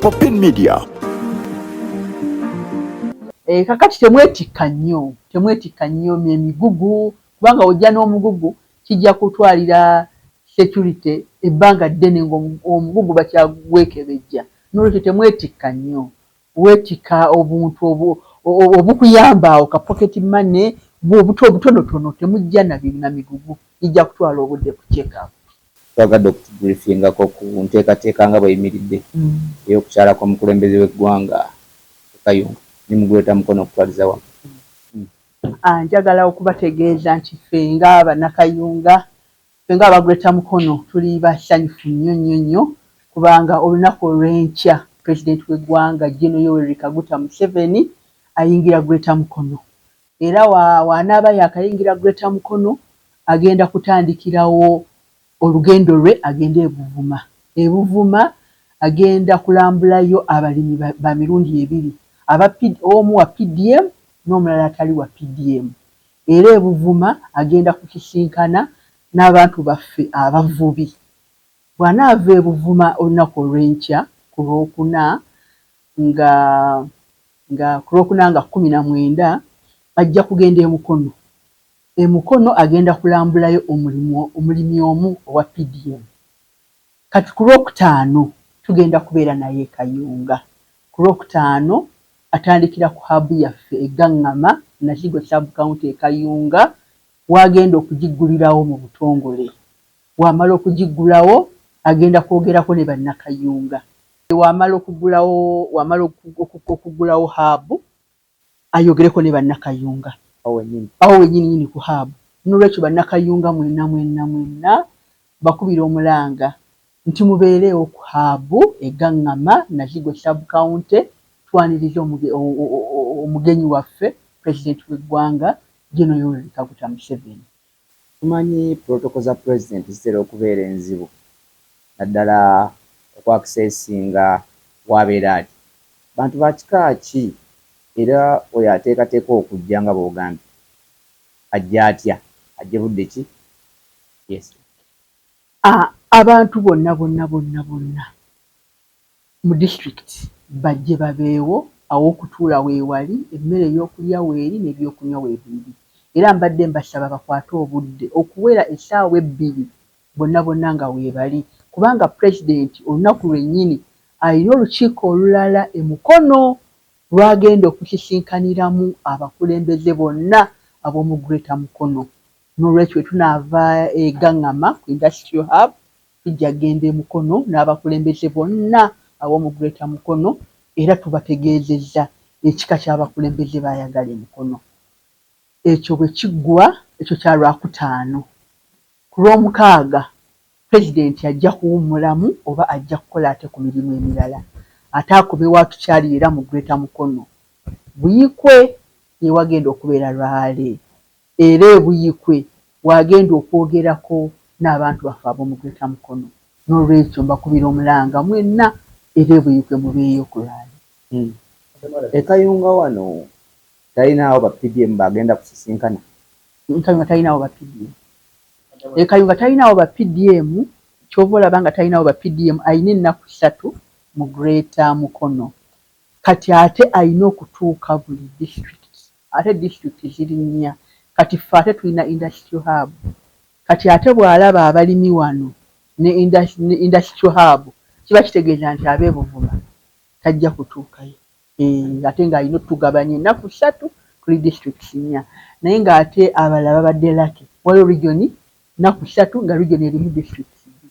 Popin Media. E, eh, kakati temwetikka nnyo temwetikka nnyo emigugu kubanga ojja n'omugugu kijja kutwalira security ebbanga ddene ng'omugugu bakyagwekebejja nolwekyo temwetikka nnyo Weetikka obuntu obukuyamba awo, ka pocket money bwo obuto obutonotono, temujja na bi na migugu gijja kutwala obudde ku check up. Twagadde okutubriefingako ku nteekateeka nga bweyimiridde ey'okukyala kw'omukulembeze w'eggwanga e Kayunga ne mu Greater Mukono okutwaliza wamu. Njagala okubategeeza nti ffe nga Bannakayunga Ffe nga aba Greater Mukono tuli basanyufu nnyo nnyo nnyo kubanga olunaku olw'enkya President w'eggwanga Gen. Yoweri Kaguta Museveni ayingira Greater Mukono era wa w'anaaba yaakayingira Greater Mukono agenda kutandikirawo olugendo lwe agende e Buvuma. E Buvuma agenda kulambulayo abalimi ba ba mirundi ebiri aba omu wa PDM n'omulala atali wa PDM era e Buvuma agenda kusisinkana n'abantu baffe abavubi. Bw'anaava e Buvuma olunaku olw'enkya ku Lwokuna nga nga ku Lwokuna nga kkumi na mwenda, ajja kugenda e Mukono. E Mukono agenda kulambulayo omulimu omulimi omu owa PDM. Kati ku Lwokutaano tugenda kubeera naye e Kayunga. Ku Lwokutaano atandikira ku Hub yaffe e Gangama, Nakigo Sub County e Kayunga w'agenda okugiggulirawo mu butongole. Bw'amala okugiggulawo agenda kwogerako ne Bannakayunga. Bw'amala okuggulawo bw'amala okuggulawo Hub ayogereko ne Bannakayunga awo wennyininyini ku Hub. N'olwekyo Bannakayunga mwenna mwenna mwenna mbakubira omulanga nti mubeereewo ku Hub e Gaŋŋama, Nakigo Sub County twanirize omugenyi waffe Pulezidenti w'eggwanga General Yoweri Kaguta Museveni. Tumanyi pulotoko za Pulezidenti zitera okubeera enzibu naddala oku akisesinga w'abeera ali, bantu ba kika ki era oyo ateekateeka okujja nga bw'ogambye ajja atya, ajje budde ki? Yes. A, Abantu bonna bonna bonna bonna mu district bajje babeewo aw'okutuula weewali, emmere ey'okulya weeri n'ebyokunywa weebiri era mbadde mbasaba bakwate obudde okuwera essaawa ebbiri bonna bonna nga weebali kubanga president olunaku lwennyini alina olukiiko olulala e Mukono lw'agenda okusisinkaniramu abakulembeze bonna ab'omu Greater Mukono n'olwekyo bwe tunaava e Gangama ku Industrial Hub Tujja kugenda e Mukono n'abakulembeze bonna ab'omu Greater Mukono era tubategeezezza ekika ky'abakulembeze b'ayagala e Mukono. Ekyo bwe kiggwa, ekyo kya Lwakutaano, ku Lwomukaaga Pulezidenti ajja kuwummulamu oba ajja kukola ate ku mirimu emirala ate akome wa tukyali era mu Greater Mukono. Buikwe ye wagenda okubeera lwale. Era e Buikwe w'agenda okwogerako n'abantu baffe ab'omu Greater Mukono. N'olwekyo mbakubira omulanga mwenna era e Buikwe mubeeyo okulwaleero. E Kayunga wano talinaawo ba PDM b'agenda kusisinkana? E Kayunga talinaawo ba PDM. E Kayunga talinaawo ba PDM. Ky'ova olaba nga talinaawo ba PDM. Alina ennaku ssatu mu Greater Mukono. Kati ate alina okutuuka buli disitulikiti. Ate district ziri nnya kati ffe ate tulina industrial hub kati ate bwalaba abalimi wano ne industrial hub kiba kitegeeza nti abe Buvuma tajja kutuukayo eeh ate nga alina otugabanya enaku ssatu tuli districts nnya naye nga ate abalala babadde lucky waliwo region naku ssatu nga region erimu districts bbiri.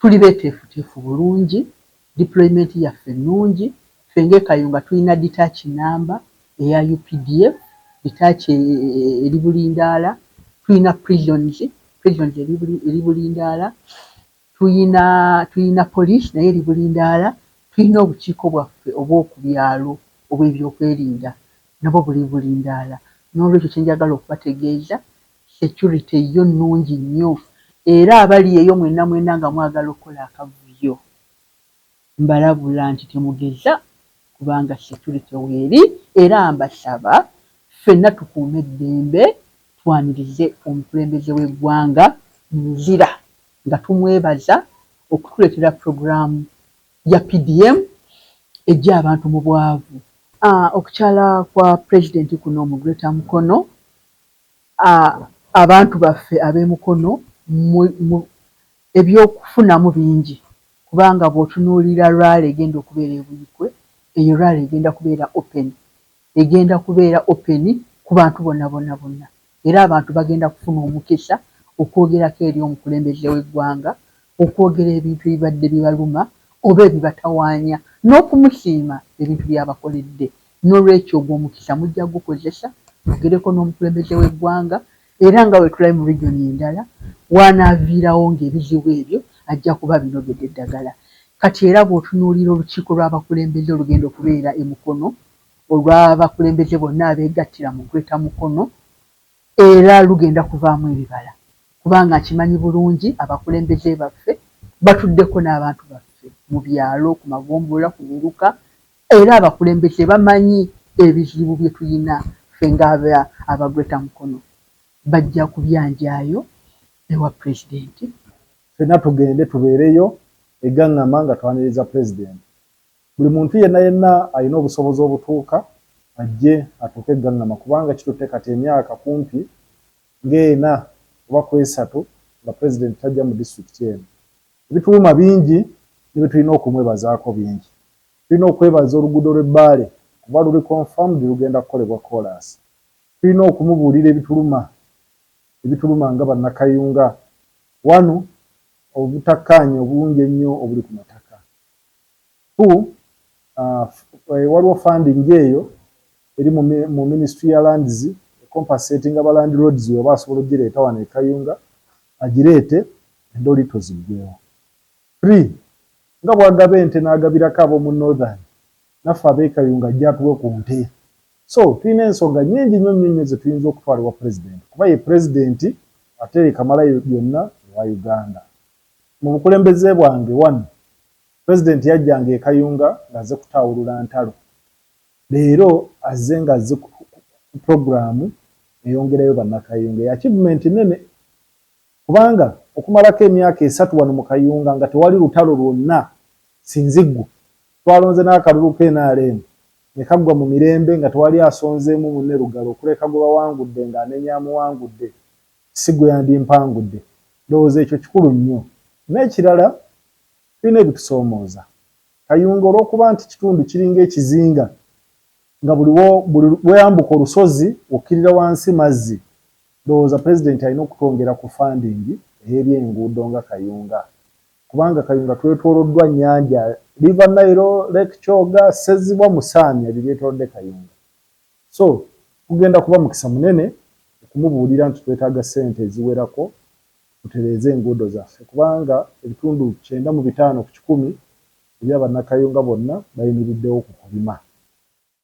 Tuli beteefuteefu bulungi, deployment yaffe nnungi, ffe nga e Kayunga tulina detach namba eya updf, detach eri bulindaala, tulina prisons, prisons eri bulindaala, tulina tulina police nayo eri bulindaala, tulina obukiiko bwaffe obw'oku byalo obw'ebyokwerinda nabwo buli bulindaala, n'olwekyo kye njagala okubategeeza Security yo nungi nnyo era abali eyo mwena mwena nga mwagala okukola akavuyo mbalabula nti temugeza kubanga security weeri era mbasaba ffena tukuume eddembe twanirize omukulembeze w'eggwanga mu luzira nga tumwebaza okutuletera program ya PDM ejja abantu mu bwavu. Okukyala kwa president kuno mu greater Mukono A, Abantu baffe ab'e Mukono mu, mu, eby'okufunamu bingi, kubanga bw'otunuulira rally egenda okubeera e Buikwe, eyo rally egenda kubeera open. Egenda kubeera open ku bantu bona bona bona. Era abantu bagenda kufuna omukisa okwogerako eri omukulembeze w'eggwanga, okwogera ebintu ebibadde bibaluma oba ebibatawaanya, n'okumusiima ebintu by'abakoledde. N'olwekyo ogwo omukisa mujja kugukozesa mwogereko n'omukulembeze w'eggwanga era nga bwe tulabye mu region endala w'anaaviirawo ng'ebizibu ebyo ajja kuba abinogedde eddagala. Kati era bw'otunuulira olukiiko lw'abakulembeze olugenda okubeera e Mukono olw'abakulembeze bonna abeegattira mu Greater Mukono era lugenda kuvaamu ebibala kubanga nkimanyi bulungi abakulembeze baffe batuddeko n'abantu baffe mu byalo, ku magombolola, ku miruka, Era abakulembeze bamanyi ebizibu byetuyina ffe nga aba greater mukono bajja kubyanjayo ewa president. Ffena tugende tubeereyo e Gangama nga twaniriza president. Buli muntu yenna yenna alina obusobozi obutuuka ajje atuuke e Gangama kubanga kitutte kati emyaka kumpi nga ena oba kwesatu nga president tajja mu district eno. Ebituluma bingi ne byetulina okumwebazaako bingi. Tulina okwebaza oluguudo lw'e Bbaale kuba luli confirmed lugenda kukolebwa koolaasi. Tulina okumubuulira ebituluma ebituluma nga Bannakayunga. One, obutakkaanya obungi ennyo obuli ku mataka. Two, waliwo funding eyo eri mu Ministry ya Lands ecompensatinga ba landlords bw'eba asobola okugireeta wano e Kayunga agireete endoli toziggwewo. Three, nga bwagaba ente nagabirako abomu Northern, naffe abe Kayunga ajje atuwe ku nte. So, tulina ensonga nyingi nnyo nnyo nnyo zetuyinza okutwala ewa President kuba ye President ate ye kamala byonna ewa Uganda. Mu bukulembeze bwange, one, President yajjanga e Kayunga nga azze kutaawulula ntalo. Leero azze nga azze ku program eyongerayo bannakayunga. Eachievement nnene. Kubanga okumalako emyaka esatu wano mu Kayunga nga tewali lutalo lwonna sinziggu, twalonze n'akalulu ka nrm ne kaggwa mu mirembe nga tewali asonzeemu munne lugalo okuleka gwe bawangudde ng'anenya amuwangudde si gwe yandimpangudde. Ndowooza ekyo kikulu nnyo. N'ekirala tulina ebitusoomooza. Kayunga olw'okuba nti kitundu kiringa ekizinga nga buli buli lw'oyambuka olusozi okkirira wansi mazzi, Ndowooza Pulezidenti alina okutwongera ku funding ey'ebyenguudo nga Kayunga kubanga Kayunga twetwoloddwa nnyanja, River Nile, Lake Kyoga, Ssezibwa, Musaamya ebyo byetolodde Kayunga so gugenda kuba mukisa munene okumubuulira nti twetaaga ssente eziwerako tutereeze enguudo zaffe kubanga ebitundu kyenda mu bitaano ku kikumi ebya Bannakayunga bonna bayimiriddewo ku kulima.